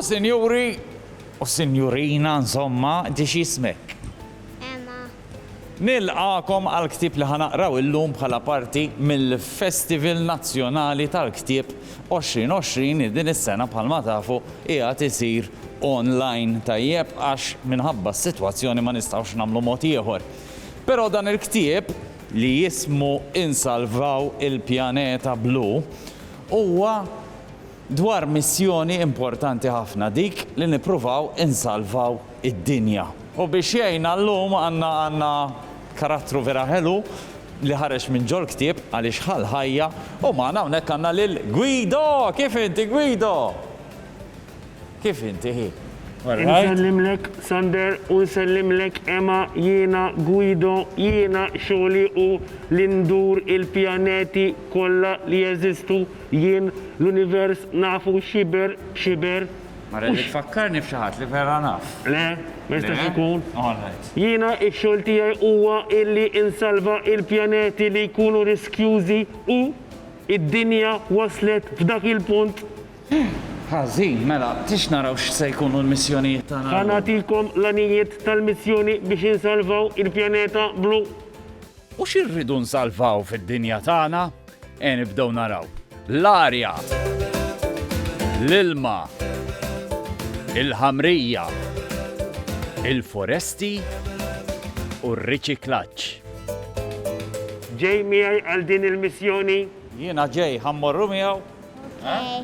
U sinjuri, u sinjurina, insomma, di xismek. Emma. Nilqakom għal ktib li ħanaqraw illum bħala parti mill-Festival Nazzjonali tal-Ktib 2020 li din is-sena bħalma tafu qiegħed isir online tajjeb għax minħabba s-sitwazzjoni ma nistgħux nagħmlu mod ieħor. Però dan il-ktieb, li jismu Insalvaw il-Pjaneta Blu, huwa dwar missjoni importanti ħafna, dik li nippruvaw insalvaw id-dinja. U biex jgħinna llum għandna għandna karattru vera ħelu li ħareġ minn ġol-ktieb għaliex ħa l-ħajja u magħna hawnhekk għandna lil Guido! Kif inti Guido? Kif inti hi? Insellimlek Sander u nsellimlek Emma jiena Guido jiena xogħli hu li ndur il-pjaneti kollha li jeżistu jien l-univers nafu xiber b'xiber Mara li tfakkarni f'xi ħadd li vera naf. Le, ma jistax ikun. Jiena x-xogħol tiegħi huwa illi insalva il-pjaneti li jkunu riskjużi u id-dinja waslet f'dak il-punt Ħażin, mela, tix naraw x'se jkunu l-missjonijiet tagħna llum? Ħa nagħtikom l-għanijiet tal-missjoni biex insalvaw il-pjaneta blu. U xi rridu nsalvaw fid-dinja tagħna? Eja nibdew naraw. L-arja. L-ilma. Il-ħamrija. Il-foresti u r-riċiklaġġ. Ġej miegħi għal din il-missjoni? Jiena ġej, ħa mmorru miegħu? Okay.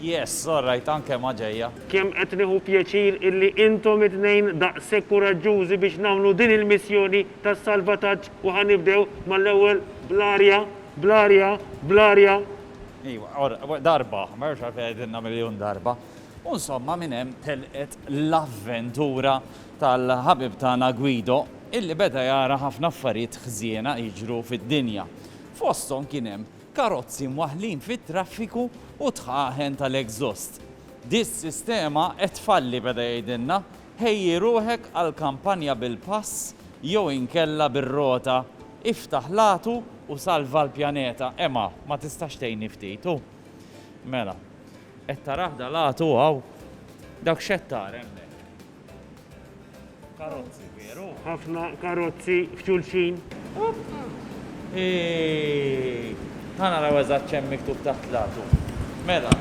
Yes, all right, anke ma ġejja. Kemm qed nieħu pjaċir illi intom it-tnejn daqshekk kuraġġużi biex nagħmlu din il-missjoni ta' salvataġġ u ħa nibdew mal-ewwel bl-arja, bl-arja, bl-arja. Iva, or, darba, ma jafx għalfejn għedinna miljun darba. U insomma minn hemm telqet l-avventura tal-ħabib tagħna Guido illi beda jara ħafna affarijiet ħżiena jiġru fid-dinja. Fosthom kien hemm karozzi mwaħħlin fit-traffiku u d-dħaħen tal-exhaust. Di s-sistema qed tfalli, beda jgħidilna, ħejji ruħek għal kampanja bil-pass jew inkella bir-rota, iftaħ l-għatu u salva l-pjaneta. Ema, ma tistax tgħinni ftit, hu? Mela. Qed tarah dal-għatu hawn? Dak x'qed tara hemmhekk? Karozzi, veru? Ħafna karozzi f'xulxin. Ħana raw eżatt ċem miktub ta' tlatu. Mela.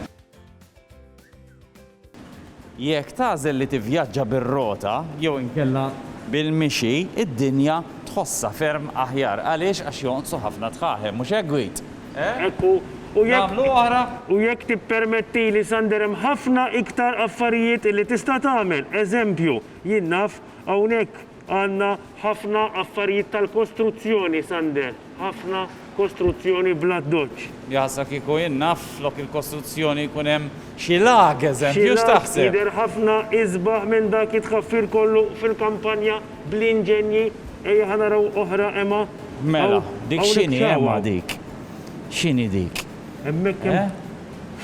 Jekk tażel li tivvjaġġa bir-rota jew inkella bil-mixi, id-dinja tħossha ferm aħjar. Għaliex? Għax jonqsu ħafna dħaħem, mhux hekk Gwid? Hekk hu. U jekk. Nagħmlu oħra? U jekk tippermettili, Sander, hemm ħafna iktar affarijiet illi tista' tagħmel. Eżempju, jien naf, hawnhekk għandna ħafna affarijiet tal-kostruzzjoni, Sander. Ħafna kostruzzjoni bl-addoċċ. Jaħsbha kieku jien naf flok il-kostruzzjoni jkun hemm Xi lag eżempju x'taħseb? Xi lag jidher ħafna isbaħ minn dak it-tħaffir kollu fil-kampanja bl-inġenji. Ejja ħa naraw oħra Ema. Mela, dik x'inhi Ema dik? X'inhi dik? Hemmhekk hemm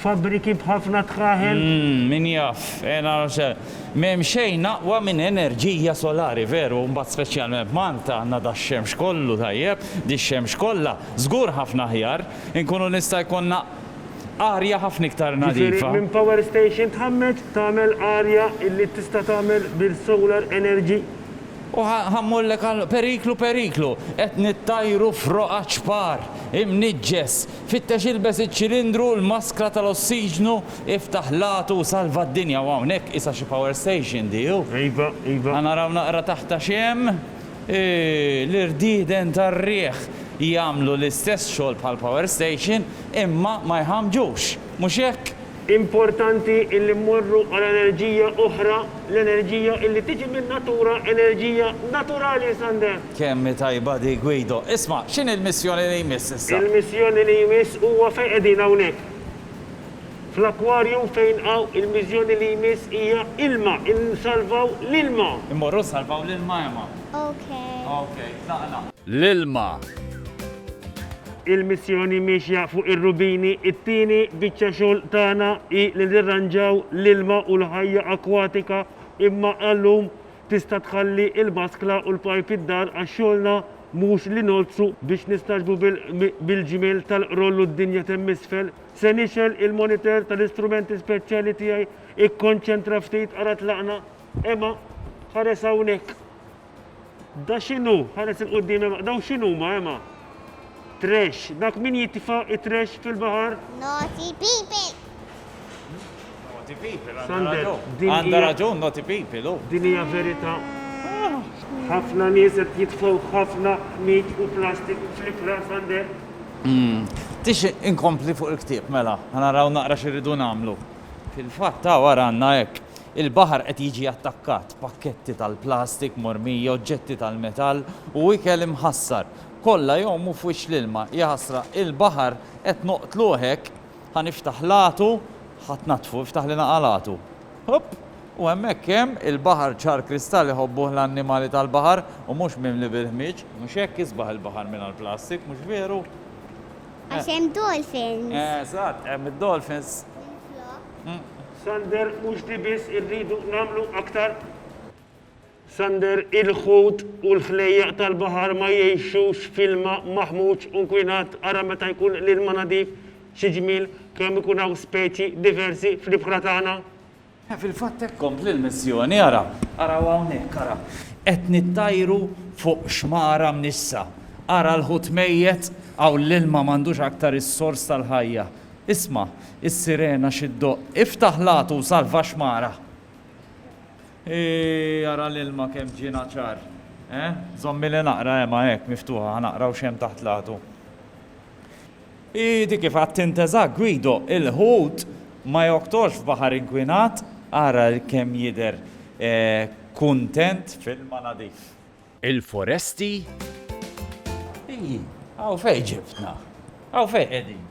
fabbriki b'ħafna tħaħel. Umm, min jaf. Ejja naraw x'se. M'hemm xejn aqwa minn enerġija solari, veru, u mbagħad speċjalment f'Malta għandna dax-xemx kollu tajjeb, dix-xemx kollha, żgur ħafna aħjar inkunu nista' jkollna. arja ħafna iktar nadifa. Jiġifieri minn power station tħammeġ tagħmel arja illi tista' tagħmel bil-solar energy? U ħa mmurlek għal periklu periklu, qed nittajru f'roqgħa ċpar, imniġġes, fittex ilbes iċ-ċilindru u l-maskra tal-ossiġnu, iftaħ l-għatu u salva d-dinja u hawnhekk qisha xi power station di hu. Iva, iva. Ħa naraw naqra taħta x'hemm. L-irdieden tar-riħ jagħmlu l-istess xogħol bħall-power station imma ma jħammġux, mhux hekk? Importanti illi mmorru għal enerġija oħra, l-enerġija illi tiġi min-natura, enerġija naturali, Sander! Kemm hi tajba dik, Guido! Isma', x'inhi l-missjoni li jmiss issa? Il-missjoni li jmiss huwa fejn qegħdin hawnhekk. Fl-akkwarju fejn hawn il-miżjoni li jmiss hija ilma, insalvaw l-ilma. Immorru nsalvaw l-ilma Ema. Ok. Ok, tlaqna. L-ilma. Il-missjoni miexja fuq ir-rubini, it-tieni biċċa xogħol tagħna hi li nirranġaw l-ilma u l-ħajja akkwatika imma għal-lum tista' tħalli il-baskla u l-pajp id-dar għax xogħolna mhux li ngħoddsu biex nistagħġbu bil-ġmiel tal-qroll u d-dinja t'hemm isfel. Se nixgħel il-monitor tal-istrumenti speċjali tiegħi. Ikkonċentra ftit, ara tlaqna. Emma, ħares hawnhekk. Da x'inhu? Ħares il quddiem Emma. Daw x'inhuma Emma? Trash. Dak min jitfa' it-trash fil-baħar? Naughty people. Naughty people, għandha Sander, raġun. din Għandha hija- raġun naughty people, u. Din hija verità. Ħafna nies qed jitfgħu ħafna ħmid u plastik fl-ibħra Sander. Tix inkompli fuq il-ktieb mela, ħa naraw naqra x'irridu nagħmlu. Fil-fatt hawn ara għandna hekk, il-baħar qed jiġi attakkat, pakketti tal-plastik mormija, oġġetti tal-metall u ikel imħassar. Kollha jgħumu f'wiċċ l-ilma. Jaħasra, il-baħar qed noqtluh hekk! Ħa niftaħ l-għatu, ħa tnaddfu, iftaħ li naqal għatu. Hupp! U hemmhekk hemm il-baħar ċar kristall iħobbuh l-annimali tal-baħar u mhux mimli bil-ħmieġ. Mhux hekk isbaħ il-baħar mingħajr plastik, mhux veru? Għax hemm dolphins. Eżatt, hemm id-dolphins. Minflok. Sander, mhux di biss irridu nagħmlu aktar. Sander, Il-ħut u l-ħlejjaq tal-baħar ma jgħixux f'ilma maħmuġ u nkwinat, ara meta jkun l-ilma nadif, xi ġmiel kemm ikun hawn speċi diversi fl-ibħra tagħna! E fil-fatt hekk kompli l-missjoni, ara, araw hawnhekk, ara, qed nittajru fuq xmara mnixxsa, ara l-ħut mejjet, hawn l-ilma m'għandux aktar is-sors tal-ħajja, isma' is-sirena xi ddoqq, iftaħ l-għatu u salva x-xmara! Eeh ara l-ilma kemm ġiena ċar, eh? Żommili naqra Ema hekk miftuħa ħa naqra u x'hemm taħt l-għadu. Hi dik kif għadt int eżatt Guido, il-ħut ma joktorx f'baħar inkwinat, ara kemm jidher kuntent f'ilma nadif. Il-foresti? Ii, hawn fejn ġibtna? Hawn fejn qegħdin?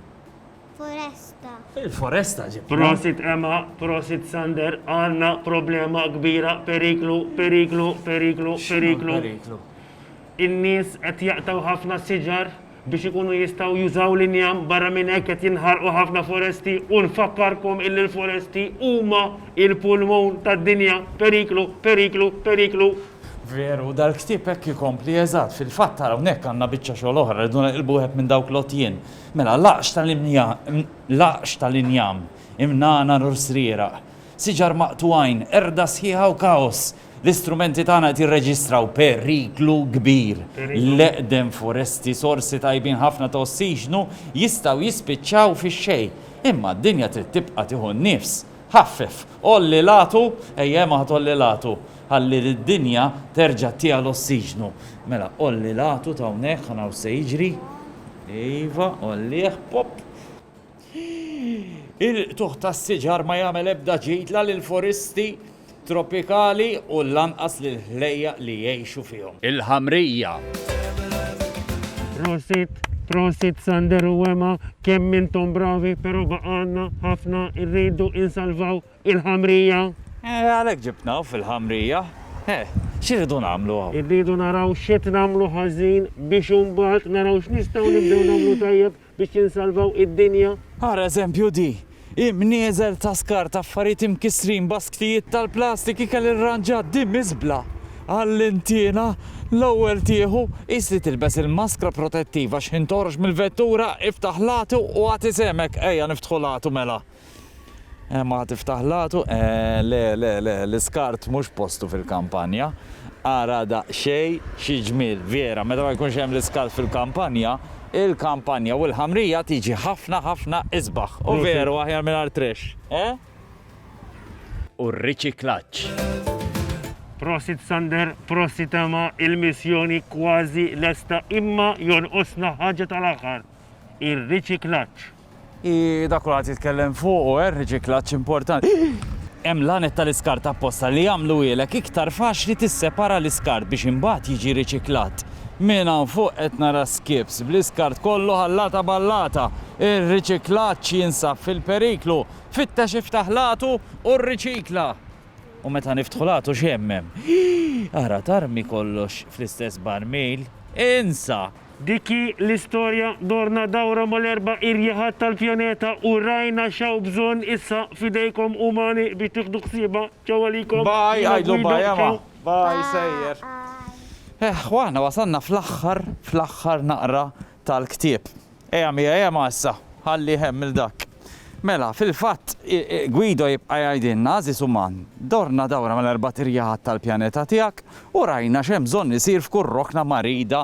Foresta. Il-foresta ġibtna. Prosit Emma, prosit Sander, għanna problema kbira, periklu, periklu, periklu, periklu. Periklu. In-nies qed jaqtaw ħafna siġar. biex ikunu jistgħu jużaw l-injam, barra minn hekk qed jinħarqu ħafna foresti u nfakkarkom illi l-foresti huma l-pulmun tad-dinja, periklu, periklu, periklu. Veru, dal-ktieb hekk ikompli, eżatt, fil-fatt ara hawnhekk għandna biċċa xogħol oħra, rridu neqilbu wieħed minn dawk l-għotjien. Mela, laqx tal-laqx tal-injam, imnagħna u srieraq, siġar maqtugħin, qerda sħiħa u kaos, L-istrumenti tagħna qed jirreġistraw periklu kbir. L-eqdem foresti, sorsi tajbin ħafna ta' ossiġnu, jistgħu jispiċċaw fix-xejn. Imma d-dinja trid tibqa' tieħu n-nifs. Ħaffef! Għolli l-għatu! Ejja, imma ħa tgħolli l-għatu, ħalli lid-dinja terġa' tieha l-ossiġnu. Mela, għolli l-għatu t'hawnhekk, ħa naraw x'se jiġri. Iva, għollih. Pop! Il-qtugħ tas-siġar ma jagħmel ebda ġid la lill-foristi tropikali u lanqas lill-ħlejjaq li jgħixu fihom. Il-Ħamrija. Prosit, prosit Sander u Ema, kemm intom bravi pero baqa' għandna ħafna rridu insalvaw il-Ħamrija. Eh, għalhekk ġibtna hawn fil-Ħamrija. Eh, x'irridu nagħmlu hawn? Irridu naraw x'qed nagħmlu ħażin biex imbagħad naraw x'nistgħu nibdew nagħmlu tajjeb biex jinsalvaw id-dinja. Ara eżempju di, Hemm nieżel ta' skart, affarijiet imkissrin, basktijiet tal-plastik, ikel irranġat, di miżbla! Għallimtiena l-ewwel tieħu, qis li tilbes il-maskra protettiva, xħin toħroġ mill-vettura, iftaħ l-għatu u agħti sehmek, ejja niftħu l-għatu mela. Ema tiftaħ l-għatu, Le, le, le, l-iskart mhux postu fil-kampanja. Ara daqsxejn xi ġmiel, Viera, meta ma jkunx hemm l-iskart fil-kampanja, il-kampanja u l-ħamrija tiġi ħafna, ħafna isbaħ. U veru, aħjar mingħajr trash, eh? U r-riċiklaġġ. Prosit Sander, prosit Ema, il-missjoni kważi lesta imma jonqosna ħaġa tal-aħħar, ir-riċiklaġġ. Hi dak kulħadd jitkellem fuqu, eh, riċiklaġġ importanti. Hemm l-għanet tal-iskart apposta li jagħmluhielek iktar faċli tissepara l-iskart biex imbagħad jiġi riċiklat. Minn hawn fuq qed nara skiffs bl-iskart kollu ħallata b'ħallata. Ir-riċiklaġġ jinsab fil-periklu. Fittex iftaħ l-għatu u rriċikla! U meta niftħu l-għatu x'hemm hemm? Hi! Ara tarmi kollox fl-istess barmil? Insa! Dik hi l-istorja, dorna dawra mal-erba' irjaħat tal-pjaneta u rajna x'hawn bżonn issa f'idejkom umani biex tieħdu ħsiebha. Ciao għalikom. Bye, għidlu bye Emma. Bye, sejjer. Eħ, u aħna wasalna fl-aħħar, fl-aħħar naqra tal-ktieb. Ejja miegħi Emma issa, ħalli hemm lil dak. Mela, fil-fatt, Guido jibqa' jgħidilna, Għażiż uman, dorna dawra mal-erbat irjaħat tal-pjaneta tiegħek u rajna x'hemm bżonn isir f'kull rokna marida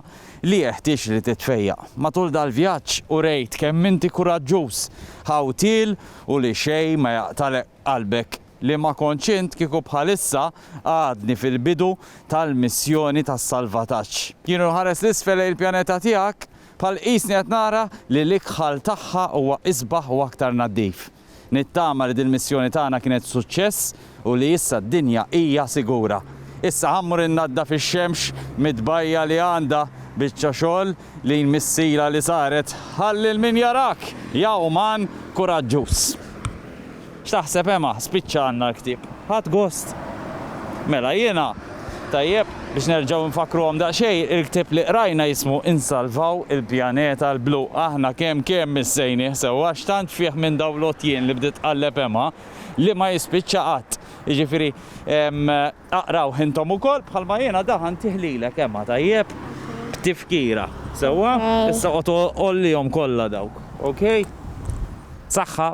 li jeħtieġ li titfejjaq. Matul dal-vjaġġ urejt kemm inti kuraġġuż, ħawtiel u li xejn ma jaqtagħlek qalbek. Li ma kontx int kieku bħalissa għadni fil-bidu tal-missjoni tas-salvataġġ. Jien u nħares 'l isfel lejn il-pjaneta tiegħek Bħal qisni qed nara li l-ikħal tagħha huwa isbaħ u aktar naddif. Nittama li dil-missjoni tagħna kienet suċċess u li issa d-dinja hija sigura. Issa ħa mmur innaddaf ix-xemx mit-tbajja li għandha, biċċa xogħol li jmissilha li saret, ħalli l-min jarak jgħuman kuraġġuż. X'taħseb Ema, spiċċa għandna l-ktieb. Ħadt gost? Mela jiena. Tajjeb, biex nerġgħu nfakkruhom daqsxejn, il-ktieb li qrajna jismu Insalvaw il-Pjaneta l-Blu. Aħna kemm kemm missejnih sewwa, x'tant fih minn dawn l-għotjien li bdiet tqalleb Ema, li ma jispiċċa qatt. Jiġifieri, aqrawh intom ukoll bħalma jiena daħantih lilek Ema, tajjeb? B'tifkira. Sewwa? Issa oqgħod ollihom kollha dawk. Okej? Saħħa.